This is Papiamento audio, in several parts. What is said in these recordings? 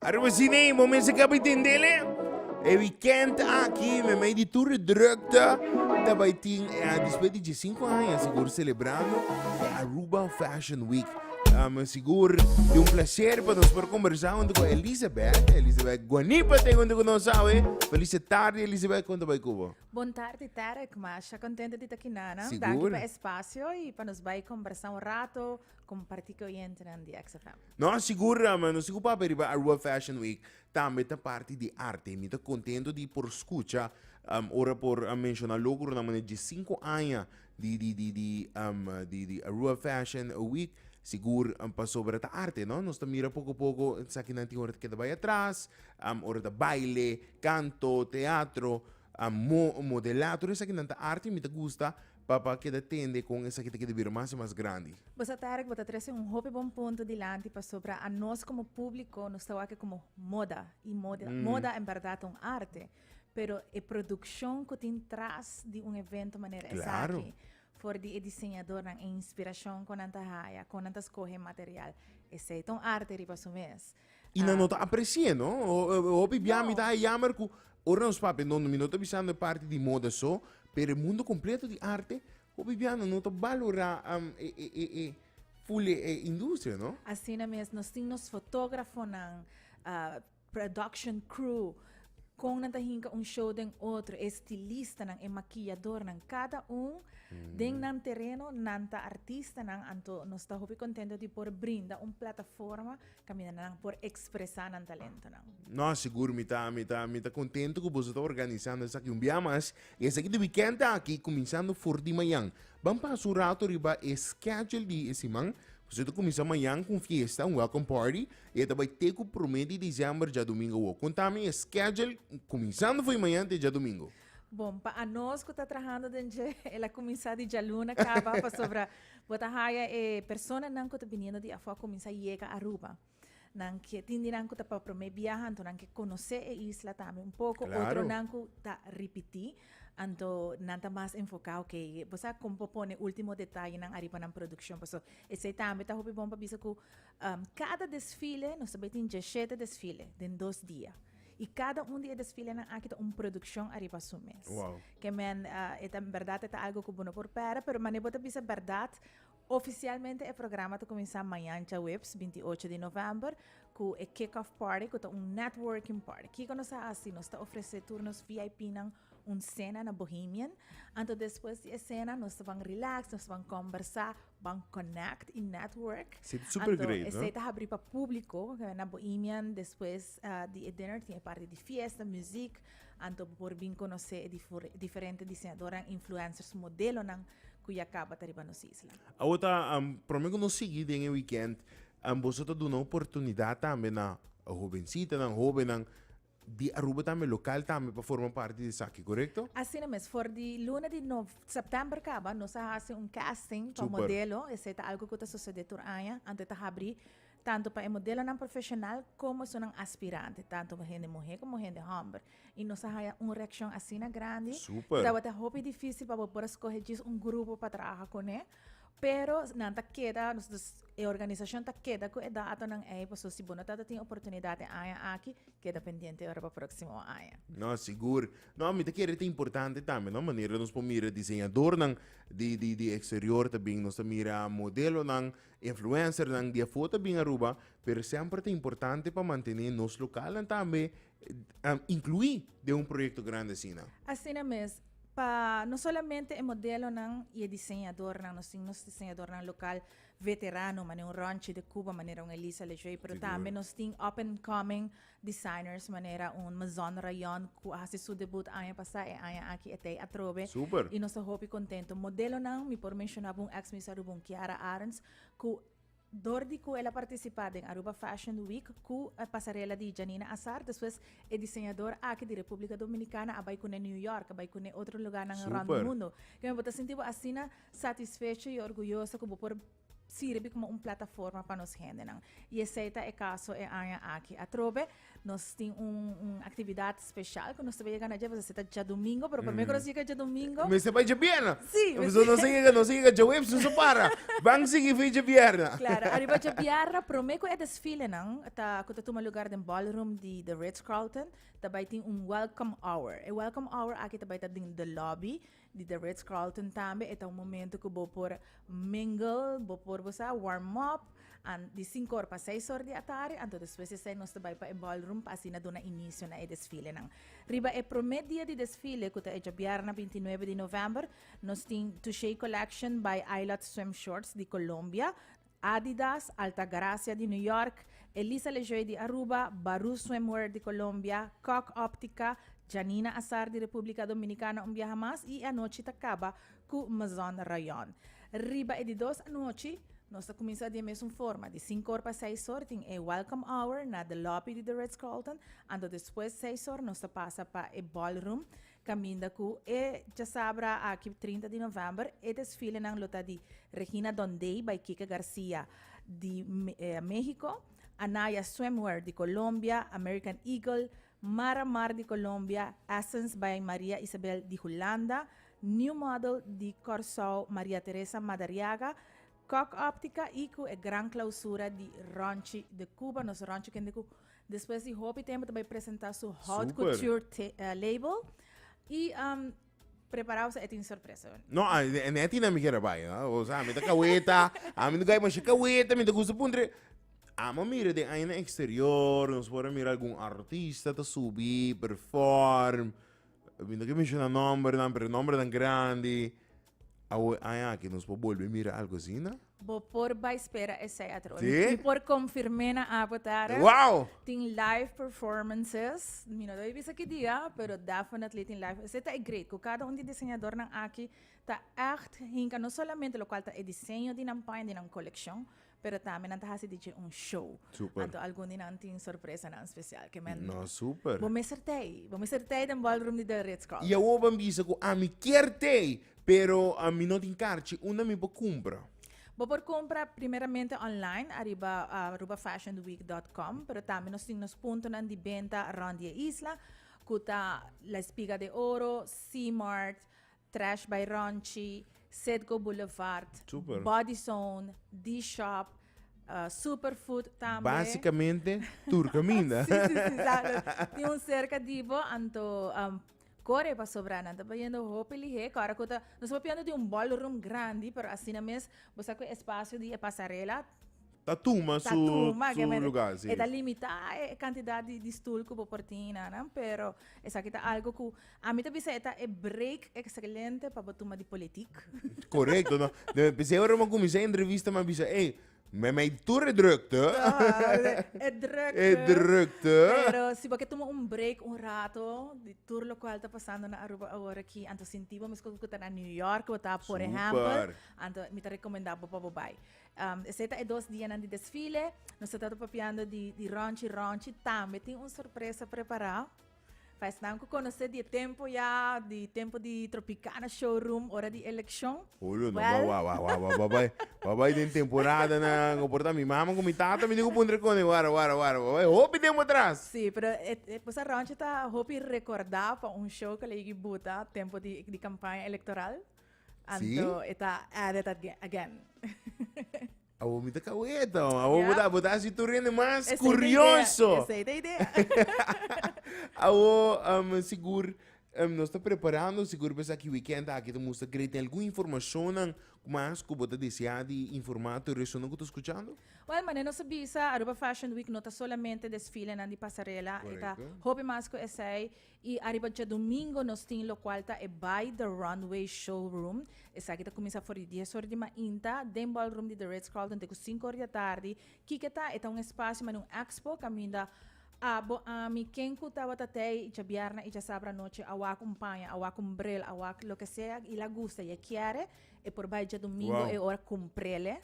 Ariba si nee, bo mester ka bay tende le. E weekend aki me mei di tur e drukte ta bay tin eh despues di diesinco aña sigur celebrando e Aruba Fashion Week. Ah, me sigur di un placer pa nos por conversa hunto cu Elizabeth, Elizabeth Guanipa ta hunto cu nos awe. Feliz e tarde Elizabeth, con ta bay cu bo? Bon tarde Derek, masha contenta di ta aki nan. Sigur. Danki pa espacio y pa nos bay conversa un rato. Comparti cu oyentenan di XFM. Nos sigur Rama, nos sigur papia riba Aruba Fashion Week tambe ta parti di arte. Mi ta contento di por scucha um, ora por um, menciona logro na mane dje cinco aña di di di di um, di di Aruba Fashion Week. Sigur um, pasobra ta arte, no? Nos ta mira poco poco sakinan tin ora ta keda bay atras, um, ora ta baile, canto, teatro, um, mo, modela, tur esakinan ta arte. Mi ta gusta Papa keda tende kon esaki ta keda bira mas i mas grandi. Bosa Tarek bo ta trese un hopi bon punto dilanti pasobra a nos komo publiko nos ta wak komo moda i moda moda en berdad ta un arte pero e produkshon ku tin tras di un evento manera esaki for di e diseñadornan e inspirashon ku nan ta haya kon nan ta skohe e material esei ta un arte riba su mes Y nan no ta aprecie no. Hopi bia mi ta hay jammer cu ora nos papia no mi no ta bisa no parti di moda so, pero e mundo completo di arte hopi bia nan no ta balora um e e e e full e e industria no. Asina mes nos tin nos fotografonan, uh, production crew, con nan ta hinca un show den otro, e stilistanan, e maquilladornan, cada un den nan tereno nan ta artistanan, anto nos ta hopi contento di por brinda un plataforma Kaminda nan por ekspresá nan talentonan. No, sigur, mi ta mi ta mi ta kontentu ku boso ta organisando esaki un bia mas, i esaki di wikènt aki kuminsando for di mañan. Ban pasa un ratu riba e schedule di e siman, pasobra ta kuminsá mañan ku un fiesta, un welcome party, i e ta bai te ku promé di December, djadumingu awor. Konta mi e schedule kuminsando for di mañan te djadumingu. Bon, pa anos ku ta trahando den dje, el a kuminsá di djaluna kaba, pasobra bo ta haya e personanan ku ta biniendo di afó a kuminsá yega Aruba. Nan ke, tin di nan ku ta pa promé biaha, anto nan ke konosé e isla tambe un poko, Claro. otronan ku ta ripití, anto nan ta mas enfoká, okay, bo sa kon por pone último detayenan ariba nan produkshon. Por eso, esei tambe ta hopi bon pa bisa ku am, kada desfile, nos ta bai tin djeshete desfile den dos dia. Y cada un di e desfilenan aki ta un produccion ariba su mes. Wow. Que men, uh, eta, en verdad, eta algo que bono por pera, pero mané bota bisa verdad, Oficialmente e programa te comenzá mañana jueves 28 de november cu e kick-off party cu ta un networking party. Kiko nos a así? Nos ta ofrece tur nos VIP nan un cena na Bohemian. Anto después de e cena nos van relax, nos van conversar Ban Connect y Network. Sí, super great, Anto, esey no? ta habrí pa público, na Bohemian, despues ah, di e dinner tin e parti di fiesta, muziek, anto bo por bin conoce e difor- diferente diseñadornan, influencers, modelonan cu ya caba ta riba nos isla. Awo ta am, prome cu nos sigui den e weekend, am, boso ta duna oportunidad tambe na hobencitanan, hobennan, di Aruba tambe local tambe pa forma parti di esaki correcto? Asina mes for di luna di nov september caba nos a haci un casting pa modelo esey ta algo cu ta sucede tur aña ante ta habri tanto pa e modelonan profesional como esunnan aspirante tanto hende muhe como hende homber y nos a haya un reaccion asina grandi kibawata hopi dificil pa bo por a scoge djis un grupo pa trabaha cune. Pero nan ta keda e organisashon ta keda ku e datonan ei paso si bo no ta ta tin oportunidat e aña aki keda pendiente ora pa proksimo aña. No, sigur. No, mi ta kere ta importante tambe, no, manera nos por mira diseñadornan di di di eksterior ta bin, nos ta mira modelonan, influencernan di afuer ta bin Aruba, pero semper ta importante pa mantené nos lokalnan tambe a inclui den un proyecto grande asina. Asina mes, pa no solamente e modelonan y e diseñadornan, nos tin nos diseñadornan local veterano, manera un Ronchi de Cuba, manera un Elisa Lejay, pero Sigur. tambe nos tin up and coming designers, manera un Mazon Rayon, cu a haci su debut aña pasa, e aña aki e tey atrobe. Super. Y nos ta hopi contento. Modelonan, mi por menciona bo un ex-Miss Aruba, un Kiara Arends, cu Dor di cu el a participa den Aruba Fashion Week cu pasarela di Janina Azar, despues e diseñador aki di Republica Dominicana a bay cune New York, a bay cune otro lugarnan around di mundo. Keme bo ta sinti bo asina satisfecho y orguyoso cu bo por sirbi como un plataforma pa nos gendenan. Y esey ta e caso e aña aki. Atrobe Nos tin un, un actividad special cu nos te llega na pues ta ja domingo, pero primer nos llega ja domingo. Me se pa ja bierna. Sí, me Pues no se llega, no se llega ja webs, no se para. Van sigui fi ja bierna. Claro, arriba ja bierna, primer cu e desfile nan, ta, cu ta tuma lugar den ballroom di The Ritz Carlton, ta bay tin un welcome hour. E welcome hour aki ta bay ta den the lobby, Di The Ritz Carlton tambe e ta un momento cu bo por mingle, bo por bo sa warm up, an di cinco or pa seis or di atardi, anto despues esey nos ta bay pa e ballroom pa asina duna inicio na e desfilenan. Riba e prome dia di desfile, cu ta e djabièrna bintinuebe di november, nos tin Touché Collection by Aylot Swim Shorts di Colombia, Adidas, Altagracia di New York, Elisa Lejoy di Aruba, Baru Swimwear di Colombia, Kok Optica, Janina Azar di Republica Dominicana un biaha mas y e anochi ta caba cu Maison Rayon. Riba e di dos anochi nos ta cuminsa di e mesun forma, di sincor pa seisor tin e Welcome Hour na The Lobby di The Ritz Carlton, anto despues seisor nos ta pasa pa e Ballroom, Caminda cu e chasabra aki trinta di november e desfilenan lo ta di Regina Dondey by Kike Garcia di Mexico, Anaya Swimwear di Colombia, American Eagle, Mara Mar di Colombia, Essence by Maria Isabel di Hulanda, New Model di Corsou Maria Teresa Madariaga, Kok Optica y cu e gran clausura di Ronchi de Cuba, nos Ronchi kende cu Despues di hopi tempo ta bai presenta su haute Super. couture te- eh, label y um, preparado sa e tin sorpresa. wen. No, ah, ne- ne tina mi kere bai, ah. O sea, mi ta kaweta, a mi no gai masha kaweta, mi ta gusto puntre. Amo mira den aña na exterior, nos por a mira algun artista ta subi, perform. Mi no ke menciona nombernan, pero nombernan grandi. Awe aña aki nos por bolbe mira algo asina? Bo por bai spera esei atroa. Sí? Mi por confirmé na Apo Tara. Wow! Tin live performances. Mi no tabia bisa ki dia, pero definitely tin live. Esei ta e great, cu cada un di diseñadornan aki ta echt hinca no solamente locual ta e diseño di nan paña, di nan coleccion, pero tambe nan ta haci dje un show. Super. Anto algun di nan tin sorpresanan special. Ke men. No, super. Bo mester t'ei. Bo mester t'ei den ballroom di The Ritz Carlton. Y awor ban bisa cu ami kier t'ei. Pero mi no tin karchi, unda mi por kumpra? Bo por kumpra primeramente online ariba arubafashionweek.com, pero tambe nos tin nos puntonan di benta rònt di e isla, ku ta La Espiga de Oro, C-Mart, Trash by Rònchi, Citgo Boulevard, Super. Body Zone, D-Shop, ah, Superfood tambe. Basikamente tur kaminda. Sí, sí, sí, sa- tin un serka di bo, anto am, Kore pasobra nan ta bayendo hopi lihé kora ku ta nos por piando di un ballroom grandi pero asina mes bo sa ku e espacio di e pasarela Ta tuma su lugar si. E ta limita e kantidat di stul ku bo por tin inan nan pero esaki ta algu ku ami ta bisa e ta e break ekselente pa bo tuma di politik. Korekto no p'esei ora mi a kuminsá e entrevista mi a bisa ey Me mei tur e drukte. e drukte. E drukte. Pero si bo ke tuma un break un rato di tur lokual ta pasando na Aruba awor aki, anto sinti bo meskos ku ta na New York bo ta, por ehèmpel, anto mi ta rekomendá bo pa bo bai. Um, esei ta e dos dianan di desfile. Nos ta tabapiando di, di Rònchi Rònchi tambe tin un sorpresa prepará. Pa esnan ku konosé di e tempu ya, di tempu di Tropicana Showroom ora di elekshon, Julio, no Well. wa wa wa wa wa bai wa bai den temporadanan o por ta mi mama ku mi tata mi diku puntra kone wara wara wara wa bai hopi tempu atras. Sí, pero e, e Bossa Rounche ta hopi rekordá pa un show ku el a yegi buta tempu di, di kampaña elektoral. Sí. Anto e ta added ag- again. Awor mi ta kaweta, man. Awor bo ta, bo ta hasi tur hende mas Esei ta idea, kurioso. esei ta idea. Awor, em, sigur, em, nos ta prepará nos, sigur besaki wikènt aki ta mustra grei den algun informashonnan ku mas ku bo ta deseá di informá tur esunnan ku ta skuchando. Wel, mane nos a bisa, Aruba Fashion Week no ta solamente desfilenan di pasarela, e ta Korekto. hopi mas ku esei. I ariba djadumingo nos tin lokual ta e By The Runway Showroom. Esaki ta kuminsá for di dies ora di mainta den ballroom di The Ritz Carlton te ku sinku ora di atardi. Kiko ta? E ta un espasio mane un expo kaminda a bo ami ken ku tabata tei djabièrnè i djasabra anochi a wak un paña, a wak un bril, a wak loke sea i la gusta i a kiere, e por bai djadumingo e ora kumprele.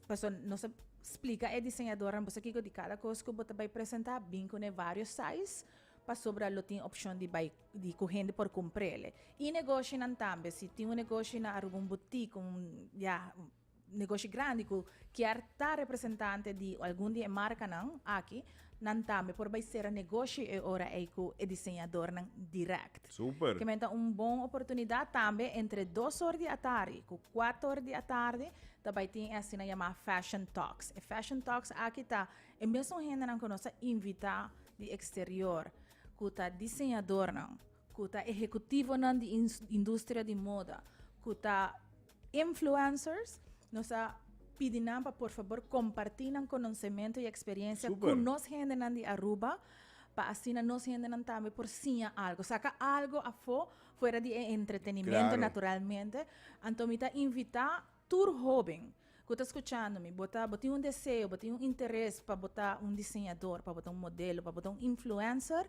Paso nos a splika e diseñadornan boso kiko di kada kos ku bo ta bai presentá. Bin kune varios size. pasobra lo tin opshon di bai di ku hende por kumprele. I negoshinan tambe, si tin un negoshi na Aruba, un butik, un ya negoshi grandi ku kier ta representante di algun di e markanan aki, nan tambe por bai sera negoshi e ora ei ku e diseñadornan dirèkt. Super! Kimen ta un bon oportunidat tambe entre dos or di atardi ku kuator di atardi ta bai tin e asina yamá Fashion Talks. E Fashion Talks aki ta. E mesun hendenan ku nos a invitá di eksterior, ku ta diseñadornan, ku ta ehekutivonan di industria di moda, ku ta influencers, nos a pidi nan pa por fabor kompartí nan konosementu i eksperensia ku nos hendenan di Aruba, pa asina nos hendenan tambe por siña algu, saka algu afó fuera di e entretenimentu naturalmente. Anto mi ta invitá. Tur hoben ku ta skuchando mi, bo ta bo tin un deseo, bo tin un interes pa bo ta un diseñador, pa bo ta un modelo, pa bo ta un influencer,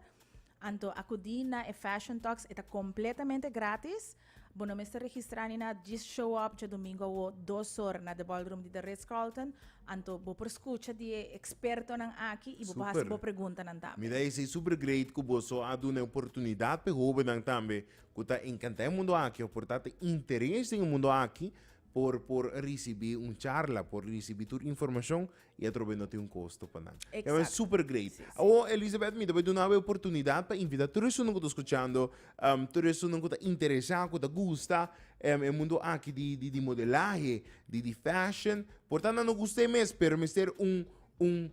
anto akudí na e Fashion Talks, e ta kompletamente grátis, bo no mester registrá ni nada, djis show up dje domingo awó dos or na The Ballroom di The Ritz Carlton, anto bo por skucha di e ekspertonan aki i bo por hasi Super. bo preguntanan tambe. Mi ta esei super great ku boso a duna e oportunidat pa e hobennan tambe ku ta enkantá e mundu aki òf por ta ta interes den e mundu aki por por risibí un charla, por risibí tur informashon i atrobe no tin un kosto pa nan. Exacto. Bai super grei. Sí, sí. Awo Elisabeth mi ta bai duna abo e oportunidat pa invitá tur esunnan ku ta skuchando, am, tur esunnan ku ta interesá, ku ta gusta em, e mundu aki di di di modelahe, di di fashion, por ta nan no gusta e mes pero mester un un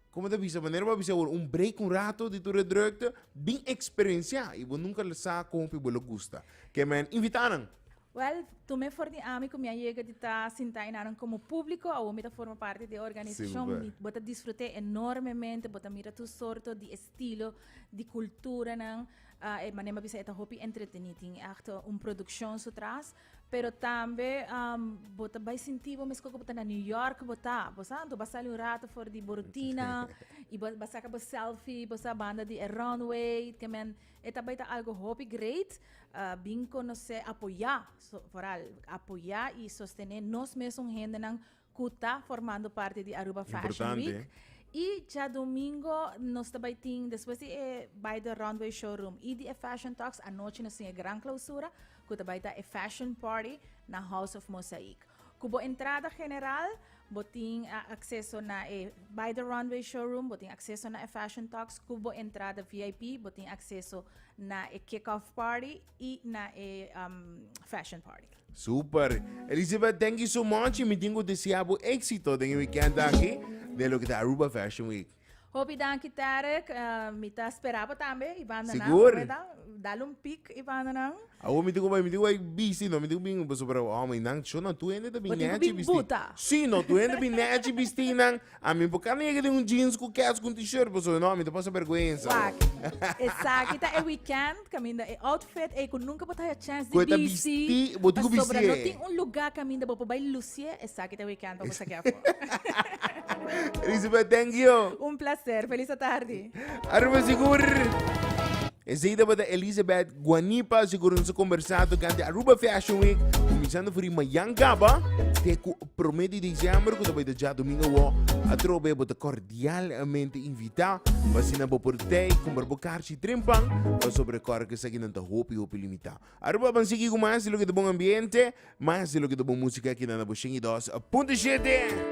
Como ta bisa? Manera bo a bisa awor, un break un rato di tur e drukte, bin experiencia y bo nunca lo sa con hopi bo lo gusta. Ke men invita nan? Well, tome for di ami cu mi a yega di ta sinta y naran como publico, awor mi ta forma parti di e organisacion, Super. mi, bo ta disfrute enormemente, bo ta mira tur sorto di estilo di culturanan, ah, e manera mi a bisa e ta hopi entreteni, tin acto un produccion su tras, Pero tambe um, bo ta bai sinti bo mesco bo ta na New York bo ta, bo sa, tu basali un rato for di bo rutina y bo basaka bo selfie, bo sa banda di e runway, que men, e ta bai ta algo hopi great, uh, bin conoce, apoya, so, vooral apoya y sostene nos mesun hendenan cu ta formando parti di Aruba Fashion Week. Importante. Y djadomingo nos ta bay tin, despues di e bay the runway showroom y di e fashion talks, anochi nos tin e gran clausura, cu ta bay ta e fashion party na House of Mosaic. Cu bo entrada general, bo tin a acceso na e bay the runway showroom, bo tin acceso na e fashion talks, cu bo entrada VIP, bo tin acceso na e kick-off party, y na e um, fashion party. Super. Elizabeth, thank you so much. Y mi tengo desea bu éxito den e weekend aquí, de lo que da Aruba Fashion Week. Hopi danki Tarek, uh, mi ta esperaba tambe i banda na. Sigur. Hopi dan, dal un pik i banda na. Awo mi tengo bai, mi tengo bai bisti, no, mi tengo bing boso para, oh, mi nang, cho no, tu hende da bing Wat ik netje bing bisti. buta. Si, no, tu hende bing netje bisti nang, Ami por ka nega den un jeans cu kets cu un t-shirt pasobra no ami ta pasa berguensa. Wak. Esaki ta e weekend caminda e outfit ey cu nunca bo ta haya chance Cu e di ta bisti bisti, bo tin cu bisti pasobra no e. tin un lugar caminda bo por bay lucie, esaki ta e weekend pa bo saki afo. Elisabeth, thank you. Un placer. Feliz atardi. Arriba sigur! Esey tabata Elisabeth Guanipa, sigur nos a combersa tocante Aruba Fashion Week cuminsando for di mayan caba te cu Prome di diciember cu ta bay ta djadomingo awo atrobe bo ta cordialmente invita pa asina bo por tey compra bo carchi tren pan pasobra recorda que esaki nan ta hopi hopi limita aroba ban sigui cu mas di loke ta bon ambiente mas di loke ta bon musica aki na na bo shen y dos punto shete.